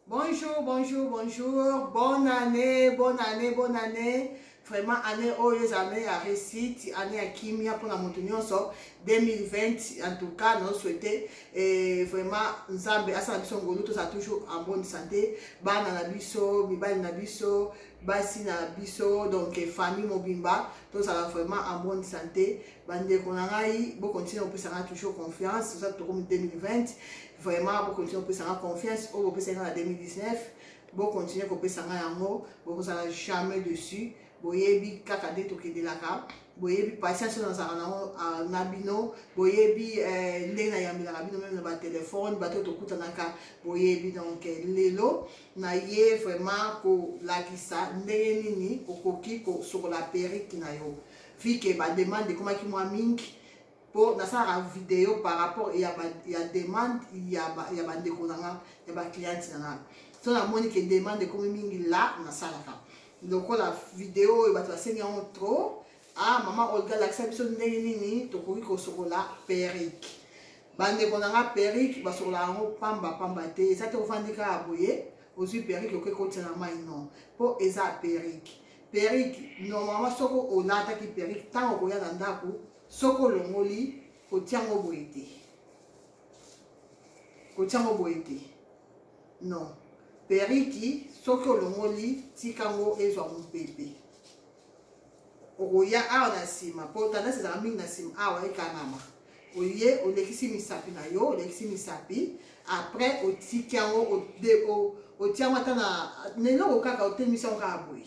Bonjour, bonjour, bonjour. Bonne année, bonne année, bonne année. Vraiment, année oyo eza année ya réussite, année ya kimia mpo na moto nyonso 2020 en tout cas na souhaite eh, vraiment nzambe asala biso ngolu tozala toujours en bonne santé bana na biso mibali na biso basi na biso donc famille mobimba tozala vraiment en bonne santé bandeko na ngai bokontinue kopesa ngai toujours confiance oza tokomi 2020 vraiment bokontinue kopesa nga confiance oyo bopesaki nga na 2019 bokontinue kopesa nga yango bokozala jamais dessus boyebi kaka nde tokendelaka boyebi patience oyo nazalaka nango ah, na bino boyebi eh, ndenge nayambelaka bino meme na batelefone bato oyo tokutanaka boyebi donc eh, lelo naye vraiment kolakisa ndenge nini okoki kosokola perike na yo vike bademande ekomaki mwa mingi mpo nasalaka video par rapport ya, ba, ya demande ya, ba, ya bandeko na nga ya bacliente na nga so namoni ke demande ekomi mingi la nasalaka lokola video oyo bato basengi yango trop ah mama olga lakisa biso ndenge nini tokoki kosokola perike bandeko na nga perike basokolaka yango pamba pamba te eza te ofandi kaka boye ozwi perike okoki kotya na mai non mpo eza perike perike normalement soki olataki perike ntango okoya na ndako Soki olongoli, kotia yango boye te. Kotia yango boye te. Non. Periki, soki olongoli, tika yango ezwa mopepe. okoya awa na nsima mpo tendance ezalaka mingi na nsima awa ekangama oye olekisi misapi na yo olekisi misapi après otiki yango otia yango ata na eloko kaka otemisi yango kaka boye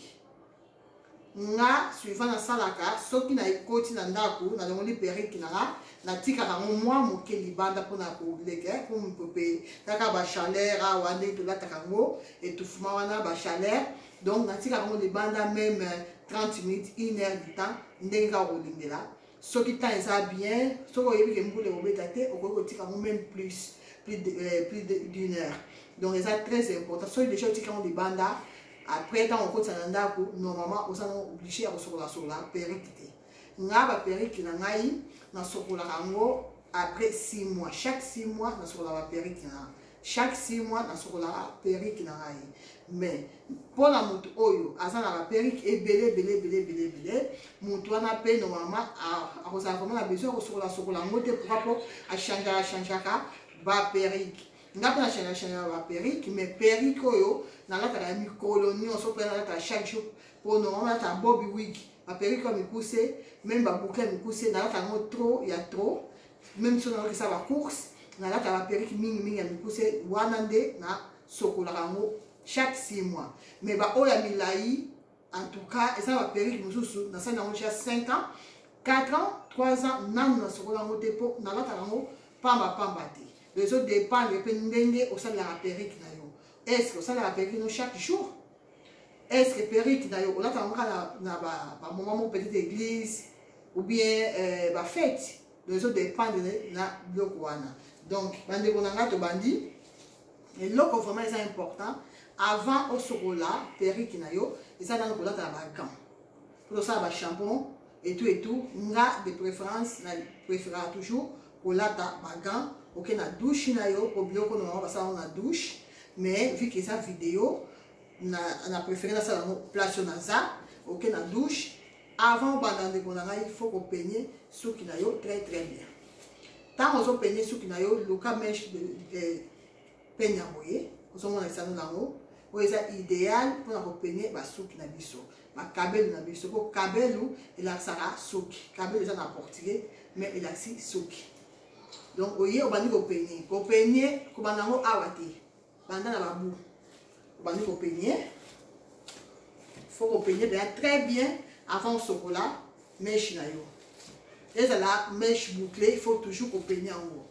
nga suivant nasalaka soki na ekoti na ndako nalongoli perike na nga natikaka yango mwa moke libanda mpona koleka pompe kaka bachaleur awa nde tolataka yango etufuma wana bachaleur donc natikaka yango libanda meme 30 minutes 1 heure du temps ndenge kaka kolingela soki temps eza bien soki oyebi ke mbula ekobeta te okoki kotika yango même plus plus de, euh, plus de, d'une heure donc eza très important soki deja otika yango libanda après ntango okotisa na ndako normalement oza na oblige ya kosokolasolola perike te ngai baperike na ngai nasokolaka yango après 6 mois chaque 6 mois nasokolaka baperike na chaque six mois nasukolaka perike na ngai mais mpo na moto oyo aza na baperike ebele ebele ebele ebele ebele moto wana mpe normalement akozala vraimen na besoin akosokola sokola yango te pourkoi mpo achangeaka achangeaka baperike nga mpe nachangea changea baperike mais perike oyo nalataka ya mikolo nyonso mpe nalataka chaque jour mpo normalement nalataka bobi wiki baperike oyo mikuse meme babuke mikuse nalataka yango trop ya trop meme so naokisa bacourse nalata baperike mingimingi ya mikuse wana nde nasokolaka yango chaque six mois mais baoyo ya milai en tout cas eza na baperike mosusu nasali yango ja 5 ans 4 ans 3 ans nanu nasokola yango te mpo nalataka yango pamba pamba te donc ezodépendre mpe ndenge osalelaka perike na yo est ce que osalelaka perike no chaque jour est ce que perruque na yo olataka ngo kaka na bamoment moko petite église ou bien euh, bafete donc ezo dépendre na biloko wana donc bandeko na ngai tobandi eloko vraiment eza important avant osokola perruque na yo eza nano kolata na bagant mpo tosala bashampon etout etout nga de préférence na préféraka toujours kolata ba gants oke na douche na yo po biloko normalement basala yango na douche mais vu que eza video na, na préféré nasala yango place oyo naza oke na douche avant obanda ndeko na ngai il faut kopenie suki na yo très très bien ntango ozopenye suki na yo luka meshe peigne ya boye ozomona lisano na yango oyo eza ideal mpona kopeigne basuki na biso bakabelu na biso mpo kabelu elakisaka suki kabelu eza na portugais mais elakisi suki donc oye obandi kopeigne kopeigne kobanda yango awa te banda na babu obandi kopeigne fo kopeigne mpenza très bien avant osokola meshe na yo ezala meshe boucle il faut toujours kopeigne yango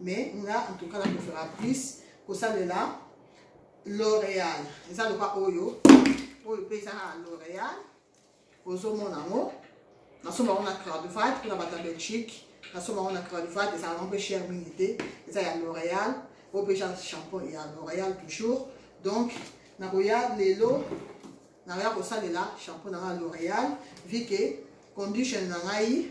mais nga en tout cas na préféra plus kosalela l'oréal eza loka oyo oyo mpe eza na l'oréal ozomona yango nasomba yango na cradvat mpona bato ya belgique nasomba yango na cradvat ezala yango mpe cher mingi te eza ya l'oréal oyo mpe eza champion ya l'oréal toujours donc nakoya lelo nakoya kosalela champion na ngai ya l'oréal vi ke condition na ngai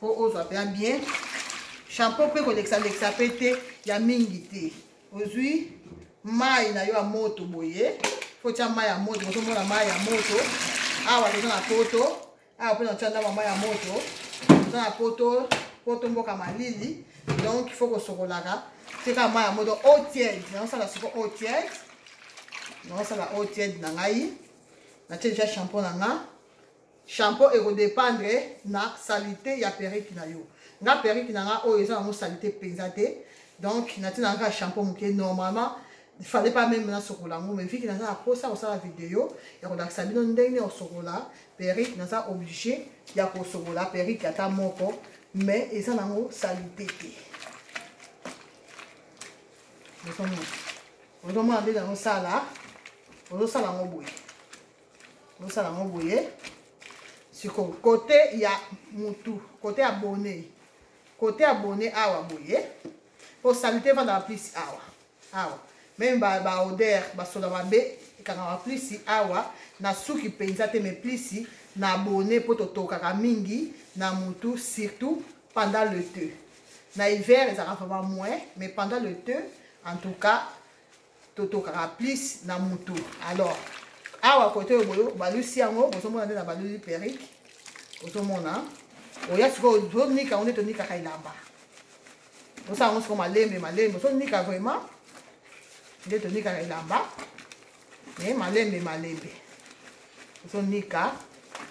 po ozwa mpe ya bien shampoo mpe kolekisa-lekisa mpe te ya mingi te ozwi mai na yo ya moto boye fotya mai ya moto ozomona mai ya moto awa toza na poto awa mpe natya ndambo mai ya moto toza na poto poto mboka malili donc fo kosokolaka tika mai ya moto eau tiède naosala siko eau tiède naosala eau tiède na ngai natye deja shampoo na nga shampoo ekodependre na salite ya periki na yo nga periki na nga oyo eza nango salite mpenza te donc natina kaka shampoo moke normalement fallait pas même nasokola yango mais viki naza na mposa kosala video ya kolakisa bino ndenge osokola perike naza oblige ya kosokola perike ata moko mais eza nango salite te ozomona nde nango sala ozosala yango boye bosala yango boye siko kote ya mutu kote ya bone kote ya bone awa boye mpo salite efandaka plisi awa awa meme baoder ba basoda mabe ekangaka plisi awa na suki mpenza te me plisi na bone mpo totokaka mingi na mutu surtout pendant le te na hiver ezalaka vraiment moins mais pendant le te en tout cas totokaka plus na mutu alors awa kote oyo boyo balusi yango bozomona nde na baluli perike ozomona oya sikoyo tozonika yango nde tonikaka elamba tosala yango sikoyo malembe malembe ozonika vraiment nde tonikaka elamba e malembe malembe ozonika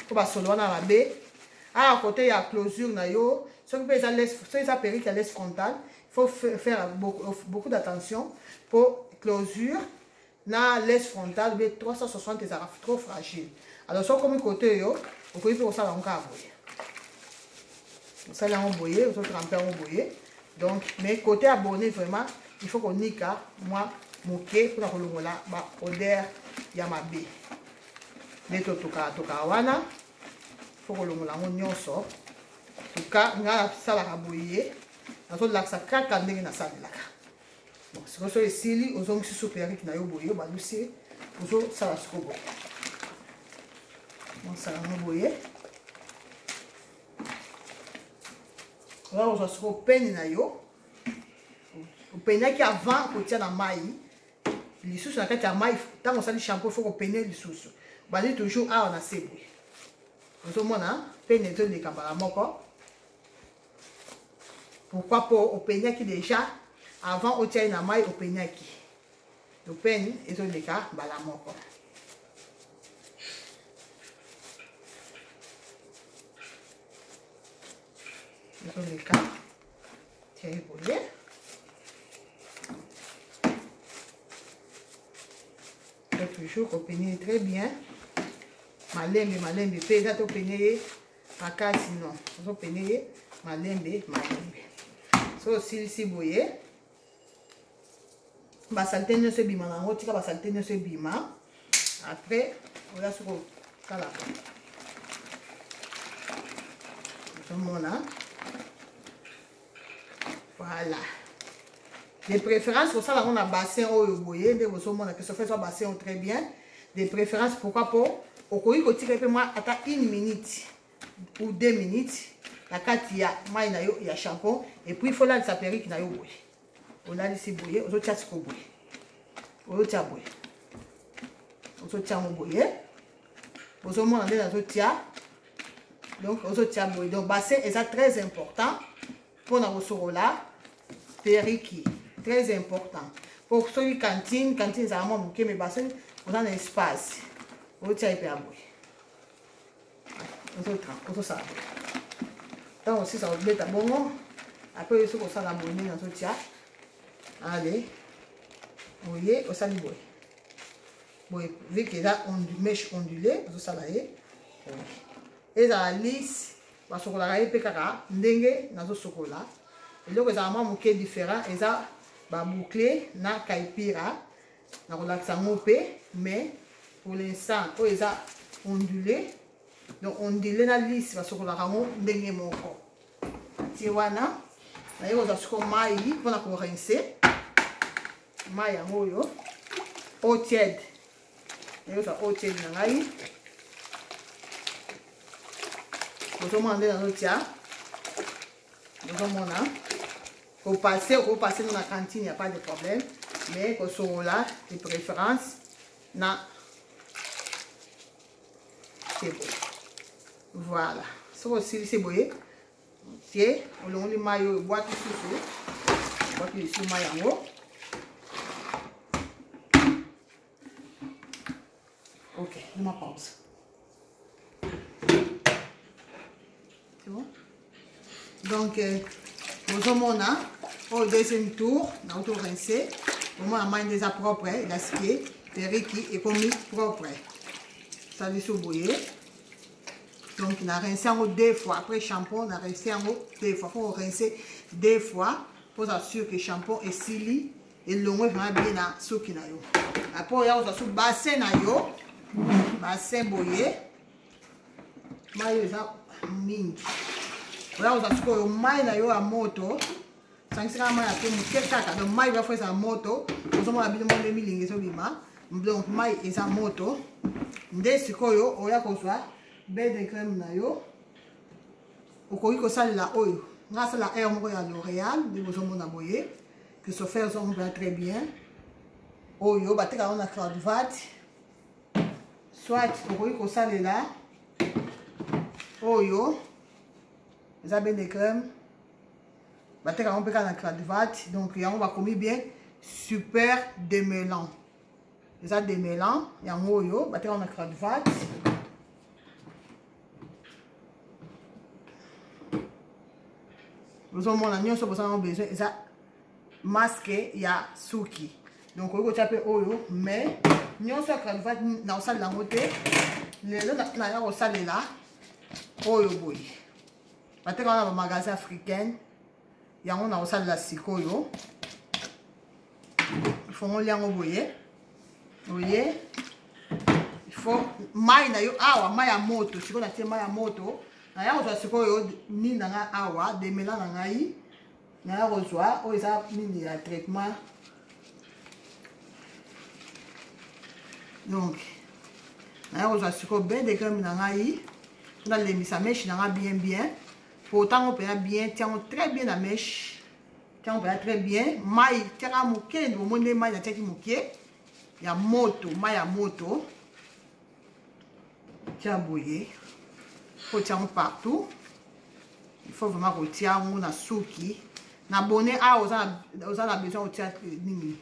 mpo basolo wana mabe awa kote ya closure na yo soki mpe eza soki eza perike ya les frontal faut faire beaucoup, euh, beaucoup d'attention pour closure na laisse frontale be 360 ezalaka trop fragile alors soki okomi kote oyo okoki mpe kosala yango kaka boye osali yango boye ozotrampe yango boye donc mais kote abonne vraiment il faut konika mwa moke mpona kolongola baoder ya mabe nde totokaka tokaka wana fo kolongola yango nyonso tuka ngai nasalaka boye nazolakisa kaka ndenge nasalelaka bon sikoyo so esili ozongisi supu ya riki na yo boye obalusi ozosala siko boye osala yango boye oza kozwa siko peni na yo openaki avant kotia na mai lisusu na kati ya mai ntango osali shampoo fo kopene lisusu bazali toujours awa na se boye ozomona pene ezoleka mbala moko pourquoi mpo openyaki déjà avant otia ye na mai openyaki lopeni ezoleka mbala moko ezoleka tia ye boye toujours kopenie ye très bien malembe malembe mpe eza topenie ye makasi no ozopene ye malembe malembe so osilisi boye basalite nyonso ebima na yango tika basalite nyonso ebima après oya soki okalaka ozomona voilà de préférence kosala yango na bassin oyo boye nde bozomona ke sofa ezwa bassin oyo très bien de préférence pourquoi mpo okoki kotika mpe mwa ata une minute ou deux minutes na kati ya mai na yo ya champon epuis fo olalisa perike na yo boye olalisi boye ozotya siko boye ozotia boye ozotia yango boye ozomona nde nazotia donc ozotia boye donc bassin eza très important mpona kosokola periki très important mpo soki cantine cantine ezala mwa moke me bassin oza na espace ozotia ye mpe ya boye ozosala boye ntango osisa kobeta bongo apres oyo soki osala boye nini azotia ale oye osali boye boye vu que eza mèche ondule ozosala ye ezala lise basokolaka ye mpe kaka ndenge nazosokola eloko ezala mwa moke différent eza baboucle na kaipira nakolakisa yango mpe mais pour l'instant oyo eza ondule donc ondule na lise basokolaka yango ndenge moko tie wana naye kozwa siko mai mpona korinse mai yango oyo eau tiède naye kozwa eau tiède na ngai bozomona nde nazotia bozomona kopase okopase no na cantine ya pas de problème mais kosolola de préférence na voilà soki osilisi boye otie olongoli mai oyo ebwaki susu ebwaki lisu mai yango ok noma pause donc euh, bozomona oyo deuxième tour nauti orince omona mai nde eza propre elasike periki ekomi propre saliso boye donc na rince yango deux fois après shampon na rince yango deux fois faut rince deux fois mpo oza sur que shampon esili elongwe vraimen bien na suki na yo après oya kozwa su bassin na yo bassin boye mai oyo eza mingi oya kozwa sikoyo mai na yo ya moto sangisaka mai ya pe moke kaka donc mai oya fo ezala moto ozomona bino mwa nde milingi ezobima donc mai eza moto nde sikoyo oya kozwa bel de crème na yo okoki kosalela oyo ngai asala aire moko ya l'oréal nde bozomona boye christopher zomba très bien oyo batekaka na cloudvat soit okoki kosalela oyo eza bien de crème bateka yango mpe kaka na cladvat donc yango bakomi bien super demelan eza demelan yango oyo bateka yango na cladvat bozomona nyonso bozango besoin eza masque ya suki donc okoki kotya mpe oyo mais nyonso ya cravate nakosalela yango te lelo naya kosalela oyo boye bateka wana bamagasin africaine yango nakosalela sikoyo ifongoli yango boye oye ifo mai na yo awa mai ya moto sikoyo natie mai ya moto naya kozwa sikoyo nini na ngai awa demela na ngai naya kozwa oyo eza nini ya traitement donc naya kozwa sikoyo bain de crème na ngai mpo nalembisa meshe na ngai bien bien mpo ntango mpenza bien tiango très bien na meshe tiango mpenza très bien mai tiaka moke nde bomoni nde mai natiaki moke ya moto mai ya moto tia boye faut tia yango partout il faut vraiment kotia yango na suki na bone awa ah, oza na besoin otia eh, nini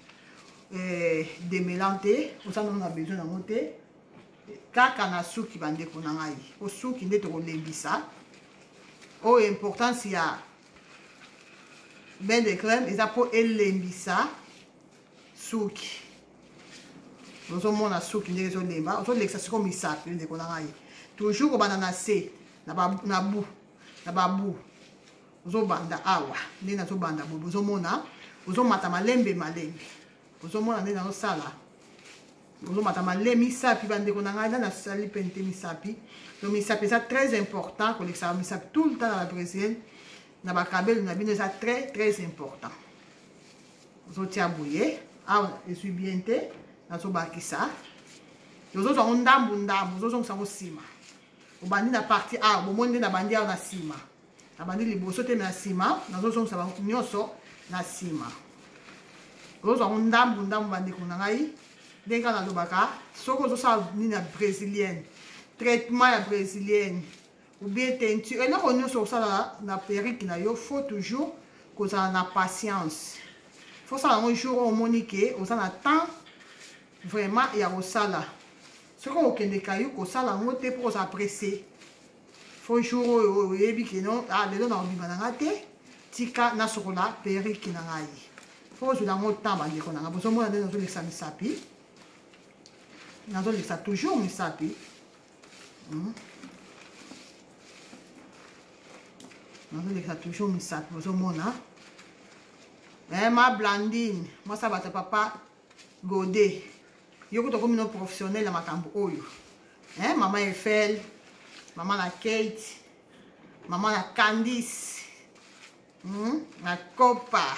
eh, demelan te oza nano na besoin yango te kaka na suki bandeko na ngai po suki nde tokolembisa oyo oh, importance ya bain de crème eza mpo elembisa suki ozomona suki ndenge ezolemba ozolekisa siko misapi ndeko na ngai toujours kobanda na se na babu na babu ozobanda awa nde nazobanda boye bozomona ozomata malembe malembe ozomona nde nazosala ozomata male misapi bandeko na ngai nani asali mpe nte misapi donc misapi eza très important kolekisaka misapi tout le temps na babrésil na bakabelo na bino eza très très important ozotia boye awa ezwi bien te nazobakisa ozozwa yango ndambu ndambu ozozongisa yango nsima obandi na parti awa bomoni nde nabandi awa na nsima nabandi liboso te na nsima nazozongisa bango nyonso na nsima ozozwa yango ndambu ndambu bandeko na ngai ndenge kaka nalobaka soki ozosala nini ya brésilienne traitement ya brésilienne ou bien teinture eloko nyonso osalaka na perike na yo faut toujours kozala na patience faut sala yango jour oyo omoni ke oza na temps vraiment ya kosala soki okokende kayu kosala yango te mpo oza presse faut jour oyo oyebi ke non ah, lelo na kobima na nga te tika nasokola perike na ngai fo ozwela yango temps bandeko na ngai bozomona nde nazolekisa misapi nazolekisa toujours misapi hmm? nazolekisa toujours misapi ozomona eh, ma blandine mwasa bato papa gode yo kuta okomi no professionnel ya makambo oyo eh, mama efel mama na kate mama na candice hmm? na copa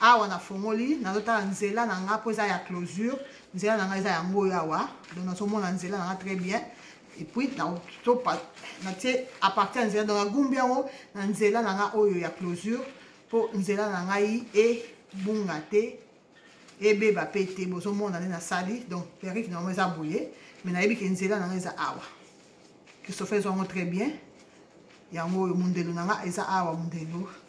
awa nafongoli nazotala nzela na nga mpo eza ya closure nzela na nga eza yango oyo awa donc nazomona nzela na nga très bien epuis natie à partir ya nzela donc nagumbi yango na nzela na nga oyo ya closure mpo nzela na ngai ebunga te ebeba mpe te bozomona nde nasali donc perike nango eza boye mai nayebi ke nzela na nga eza awa christopher ezwango très bien yango oyo mondelo na nga eza awa mondelo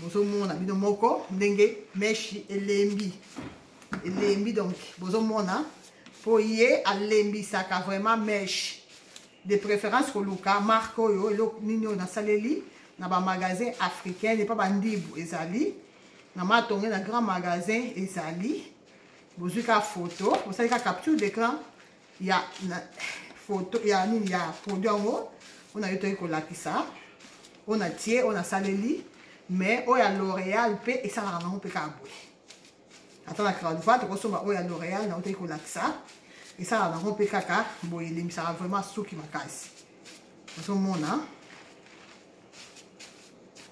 bozomona bino moko ndenge meshi elembi elembi donc bozomona mpo ye alembisaka vraiment meshi de préférence koluka marque oyo eloko nini oyo nasaleli na bamagasin africain epa bandibu ezali na matonge na grand magasin ezali bozwi kaka foto bosali kaka capture d'écran ya na, foto ya nini ya produit yango oyo nayo toyei kolakisa oyo natie oyo nasaleli mais oyo ya l'oréal mpe esalaka nango mpe kaka boye ata na cradva tokosomba oyo ya l'oréal nango toyei kolakisa esalaka nango mpe kaka boye elembisaka vraiment suki makasi ozomona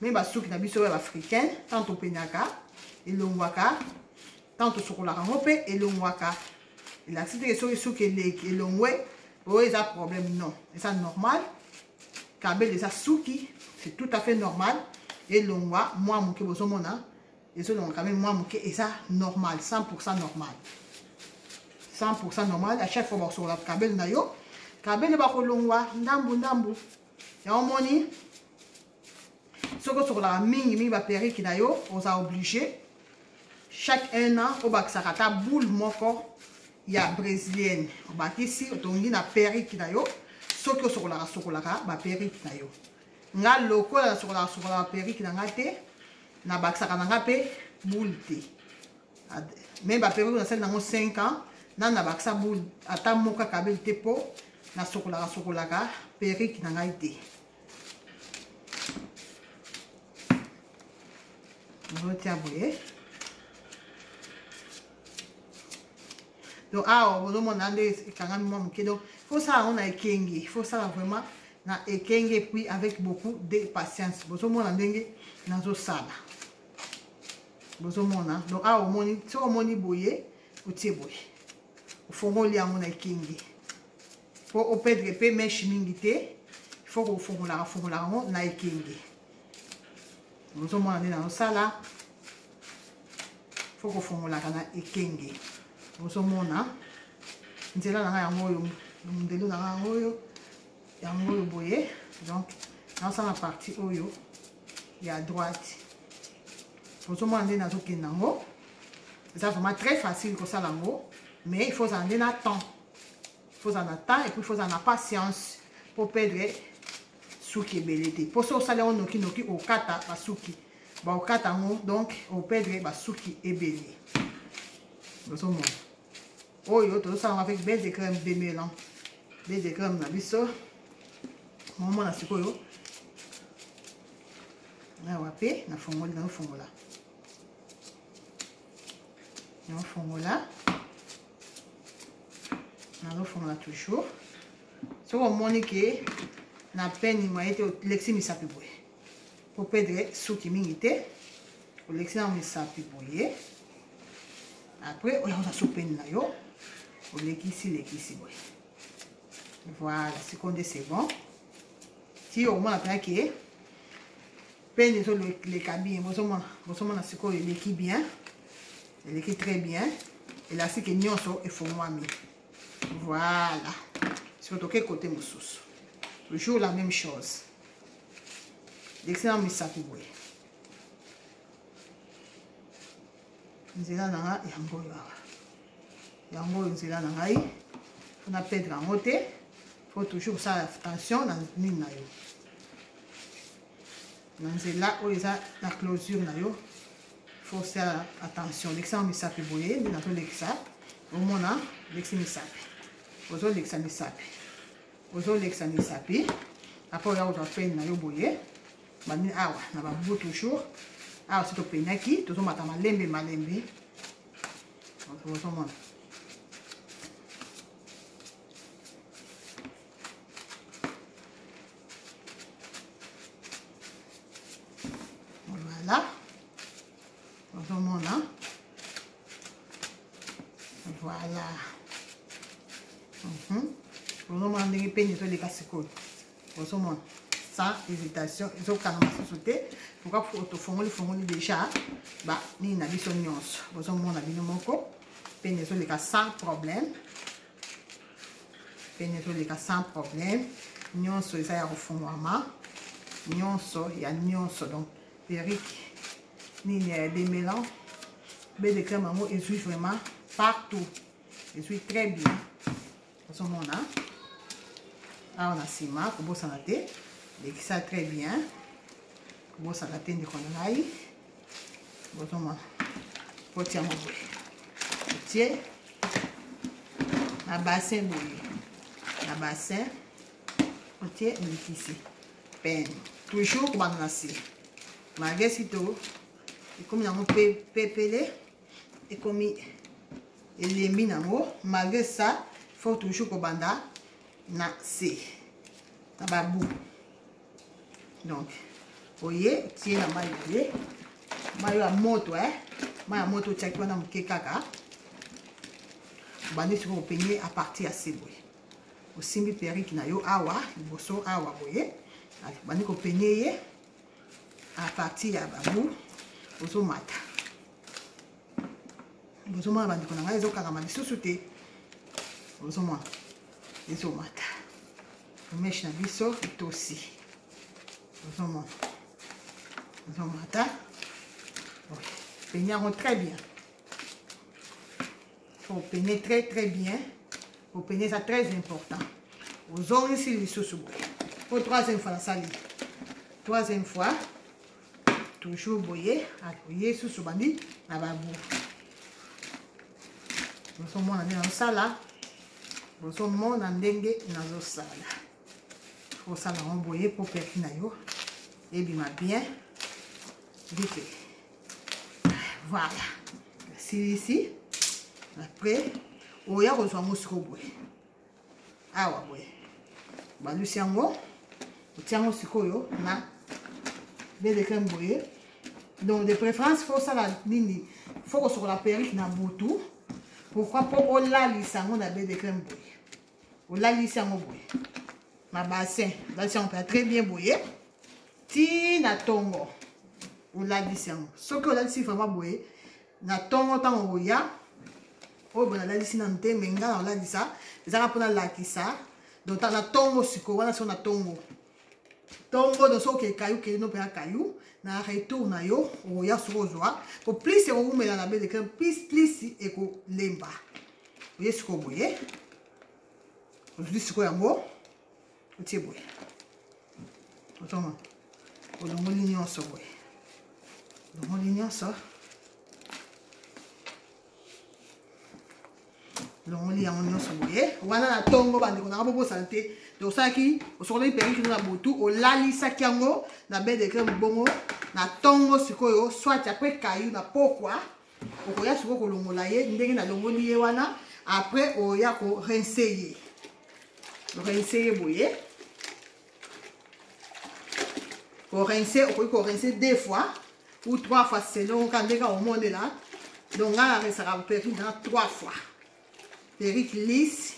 meme basuki na biso ya baafricain ntango topenyaka elongwaka ntango tosokolaka yango mpe elongwaka elakisi teke soki suki eleki elongwe oyo eza problème non eza normal kabele eza suki c'est tout à fait normal elongwa mwa moke bozomona ezolongwa quand même mwa moke eza normal 100 pourcent normal 100 pourcent normal à chaque fois bakosokola kabele na yo kabele bakolongwa ndambu ndambu yango omoni soki osokolaka mingi mingi baperike na yo oza oblige chaque un an obakisaka ata boule moko ya brésilienne obakisi otongi na perike na yo soki osokolaka sokolaka baperike na yo nga lokola nasokolaka sokolaka baperike na nga te nabakisaka na nga mpe boule te me baperike nasali nango 5 ans nani nabakisa boule ata moko akabeli te mpo nasokolaka sokolaka perike na ngai te ozotia boye donc awa bozomona nde ekangami mwa moke donc fosala yango na ekenge fosala vraiment na ekenge puis avec beaucoup de patience bozomona ndenge nazosala bozomona donc awa omoni soki omoni boye otie boye ofongoli yango na ekenge po o perdre pe meche mingi te il faut kofongolaka fongolaka yango na ekenge ozomona nde nazosala faut kofongolaka na ekenge ozomona nzela na ngai yango oyo mondelo na ngai yango oyo yango oyo boye donc nazosala parti oyo ya droite ozomona nde nazokende yango eza vraiment très facile kosala yango mais il faut ozala nde na temps faut ozala na temps epuis faut ozala na patience mpo perdre suki ebele te mpo soki osali yango nokinoki okata basuki baokata yango donc operdre basuki ebele ozomona oyo tozosala yango avec bel de crème demelan bel de crème na biso momona sikoyo awa mpe nafongoli naofongola naofongola nazofongola toujours soki omoni ke na peni mwa ye te olekisi misapi boye mpo pedre suki mingi te olekisi na misapi boye après oya kozwa so peni na yo olekisi lekisi boye voilà sikoyo nde c'est bon ti okomona mpenza ke pene ezoleka bien bozomona bozomona sikoyo eleki bien eleki très bien elastique nyonso efongwami voilà sikoyo toke kote mosusu toujours la même chose lekisana misapi boye nzela na nga yango oyo awa yango oyo nzela na ngai mpo na pedre yango te faut toujours kosala attention na nini na yo na nzela oyo eza na closure na yo fosa attention lekisa yango misapi boye nde nazolekisa omona lekisi misapi ozolekisa misapi ozolekisa misapi apres oya kozwa pene na yo boye bandi awa na babubu toujours awa si topenaki tozomata malembe malembe ozomona voilà ozomona voilà mhm. ozomona ndenge peni ezoleka sikoyo ozomona sans hésitation ezokanga mosusu te pourquoi tofongoli fongoli déjà ba nini na biso nyonso bozomona bino moko peni ezoleka sans problème pene ezoleka sans problème nyonso eza ya kofungwama nyonso ya nyonso donc perike nini ya demelan be de crème yango ezwi vraiment partout ezwi très bien ozomona awa na nsima kobosana te lekisa très bien kobosana te ndeko na ngai bozomona poti yango boye otie na basin boye na basin otie mbikisi pene toujours kobanda na se malgre sito ekomi nango pepele ekomi elembi nango malgre ça faut toujours kobanda na se na babu donc oye tie na mai na ye mai ya moto eh? mai ya moto otiaki wana moke kaka obandi sikoyo openye a partir ya se boye osimbi perike na yo awa liboso awa boye obandi kopenye ye a partir ya babu ozomata bozomona bandeko na ngai ezokangama lisusu te ozomona ezomata Mèche na biso etosi. Ozomona. Ozomona ta. Peigne yango très bien. Faut peigner très très bien. Faut peigner ça très important. Ozongisi lisusu boye. Po troisième fois nasali. Troisième fois. toujours boye akoye ah, susu bandi na babu bozomona nde nazosala bozomona ndenge nazosala osala yango boye mpo perfi na yo ebima bien ndike voilà silisi après oya kozwa yango siko boye awa boye balusi yango otia yango sikoyo na bedekre boye donc de préférence fo osala nini fo kosokola perike na butu pourkui mpo olalisa yango na bedekre boye olalisi yango boye na bassin olalisi yango mpenza très bien boye ti na ntongo olalisi yango soki olalisi vraiment boye na ntongo ntango okoya oyo boye nalalisi nanu te me ngai naolalisa ezaka mpo nalakisa donc na ntongo sikoyo wana siko na ntongo ntongo donc soki okekayu okei no mpe akayu na retour na yo okoya soki ozwa po plus ekowumela na bede crème plus plus ekolemba oye sikoyo boye ozwi sikoyo yango otie boye ozoma olongoli nyonso boye olongoli nyonso longoli yango nyonso boye wana na ntongo bandeko nanga bobosana te te osalaki osokolaki perikino na butu olalisaki yango na bedekre mobongo na ntongo sikoyo swati apres kayu na pokwa okoya sikoyo kolongola ye ndenge nalongoli ye wana après oya ko rince ye rince ye boye korince okoki korince deux fois ou trois fois selon ka ndenge omonela donc ngai naresaka perruque na trois fois perruque lise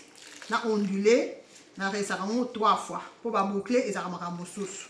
na ondule naresaka yango trois fois mpo baboucle ezalaka makambo mosusu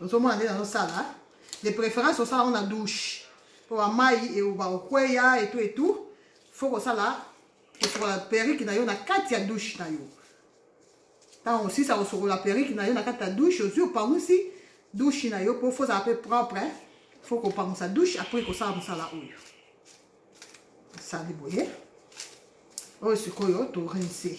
ozomona nde nazosala de préférence osala yango na douche mpo bamai eoba okweya etu etu fo kosala kosukola perike na yo na kati ya douche na yo ntango osisa kosukola perike na yo na kati ya douche ozwi opangusi douche na yo mpo fozala mpe propre fo kopangusa douche apres kosala mosala oyo osali boye oyo sikoyo torinse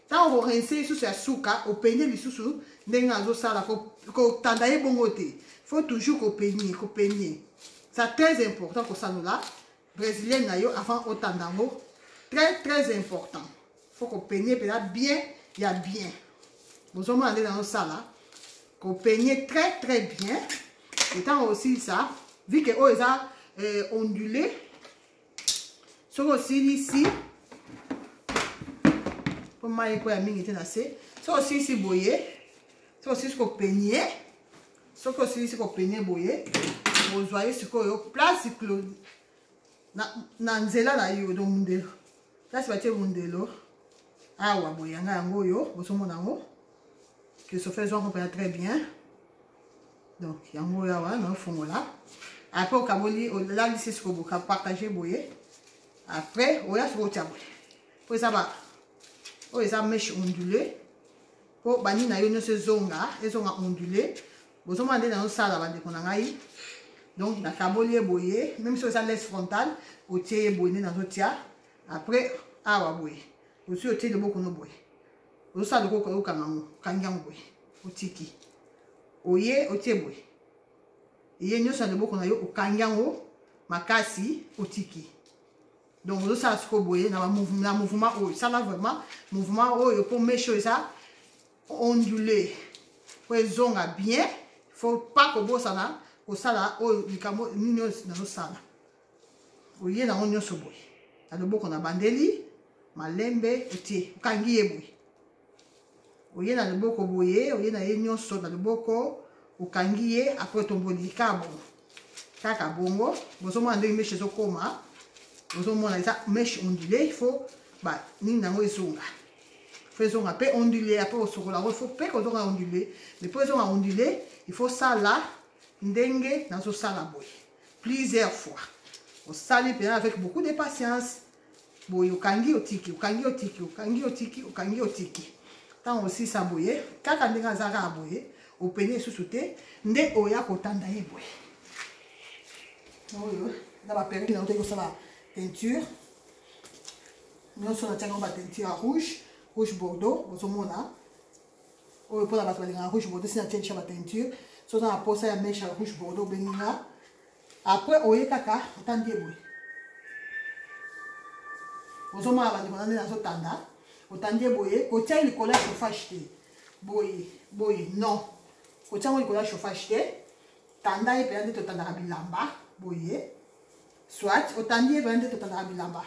ntango okorense lisusu ya suka openye lisusu ndenge azosala kotanda ye bongo te faut toujours kopenye kopenye ça très important kosanola brésilienne na yo avant otanda yango très très important faut kopenye mpenza bien ya bien bozomona nde nazosala kopenye très très bien ntango osilisa vike oyo eza euh, ondule soki osilisi mpo mai ekoya mingi te na se soki osilisi boye soki osilisi kopenie soki osilisi kopenie boye ozwa ye sikoyo place close na, na nzela na yo do mundelo place batie mundelo awa boye yanga yango oyo bozomona yango christophe ezwako mpenza très bien donc yango oyo awa naofongola après okaboli olalisi sikoboka partage boye après oya soki otya boye mpo eza ba oyo eza meshe ondule mpo bani na yo nyonso ezonga ezonga ondule bozomona nde nazosala bandeko na ngai donc nakaboli ye boye meme soki eza les frontal otie ye boye nde nazotya après awa boye osi otie loboko no boye osa loko ko yoka ngango kanga ngoy otiki oye otie boy ye nyoso ya loboko na yo okangi yango makasi otiki donc ozosala sikoyo boye na mouvement oyo sala vraiment mouvement oyo mpo meshe oyo eza ondule mpo ezonga bien faut pas kobosana kosala oyo likambo nini oyo nazosala oye nango nyonso boye na loboko na bandeli malembe otie okangi ye boye oye na loboko boye oye na ye nyonso na loboko okangi ye apres otomboli kaka bongo kaka bongo bozomona ndenge meshe ezokoma ozomona eza meshe ondule ifo banini na yango ezonga fo ezonga mpe ondule apres osokola yango ifo mpe kozonga ondule mais mpo ezonga ondule ifo sala ndenge nazosala boye plusieurs fois osali mpena avec beaucoup de patience boye okangi otiki okangi otiki okangi otiki okangi otiki ntango osisa boye kaka ndenge aza kaka boye openi lisusu te nde oya kotanda ye boye oyo na baperiode na otoki kosala teinture nyonso natiaki yango bateinture ya rouge rouge bordeaux ozomona oyo mpona bato balingaka rouge bordeaux sina tiedisha bateinture so oza na mposa ya mesha rouge bordeaux obengi nga apres oye kaka otandi eboye ozomona bandeko na nde nazotanda otandi eboye kotiaki likolo ya chauffage te boye boye non kotiango likolo ya chauffage te tanda ye mpenza nde totandaka bilamba boye soit otandi ye mpenza nde totandaka bilamba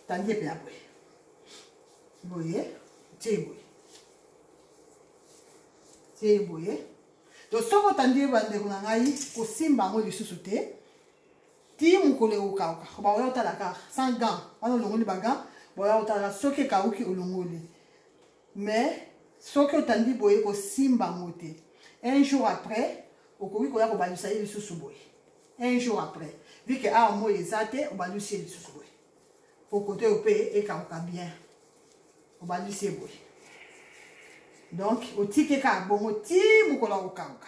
tangi epe ya boye boye tie boye tie boye to soki otandi bandeko na ngai kosimba yango lisusu te ti mokolo ekokauka baoya otala kaka sans gant wana olongoli bagant boya otala soki ekauki olongoli mais soki otandi boye kosimba yango te un jour après okoki koya kobandisa ye lisusu boye un jour après vu que awa moi eza te obandi osie lisusu boye po kote oyo mpe ekauka bien obandi osie boye donc otiki kaka bongo ti mokolo ya kokauka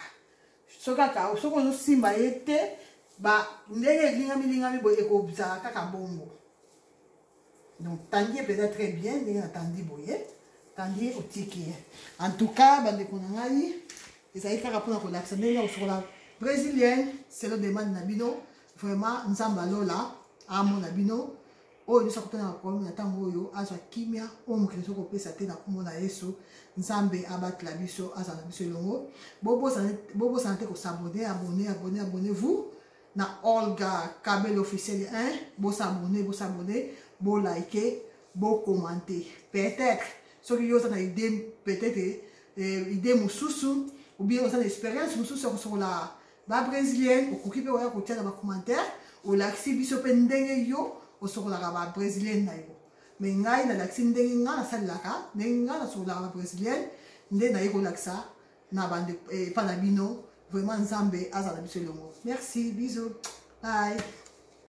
soki akauka soki ozosimba ye te ndenge elingamelingami boye ekozala kaka bongo donc tandi ye mpenza très bien ndenge natandi boye tandi ye otiki ye en tout cas bandeko na ngai ezali kaka mpona kolakisa ndenge ya kosokola brésilienne selo demande na bino vraiment nzambe alola amona bino oyo nyonso akutana na problème na ntango oyo azwa kimia oyo mokili soki kopesa te na nkombo na yesu nzambe abatela biso azala na biso elongo bobosana te kosabone abone abone abone vous na olga kabel officiel hein bo s'abonner bo s'abonner bo liker bo commenter peut-être soki yo oza na idée peut-être euh, idée mosusu ou bien oza na expérience mosusu ya kosokola ba brésilienne okoki mpe oya kotia na bacommentaire olakisi biso mpe ndenge yo osokolaka ba brésilienne na yo me ngai nalakisi ndenge ngai nasalelaka ndenge ngai nasokolaka ba brésilienne nde naye kolakisa na bande eh, epa na bino vraiment nzambe azala biso elongo merci biso bye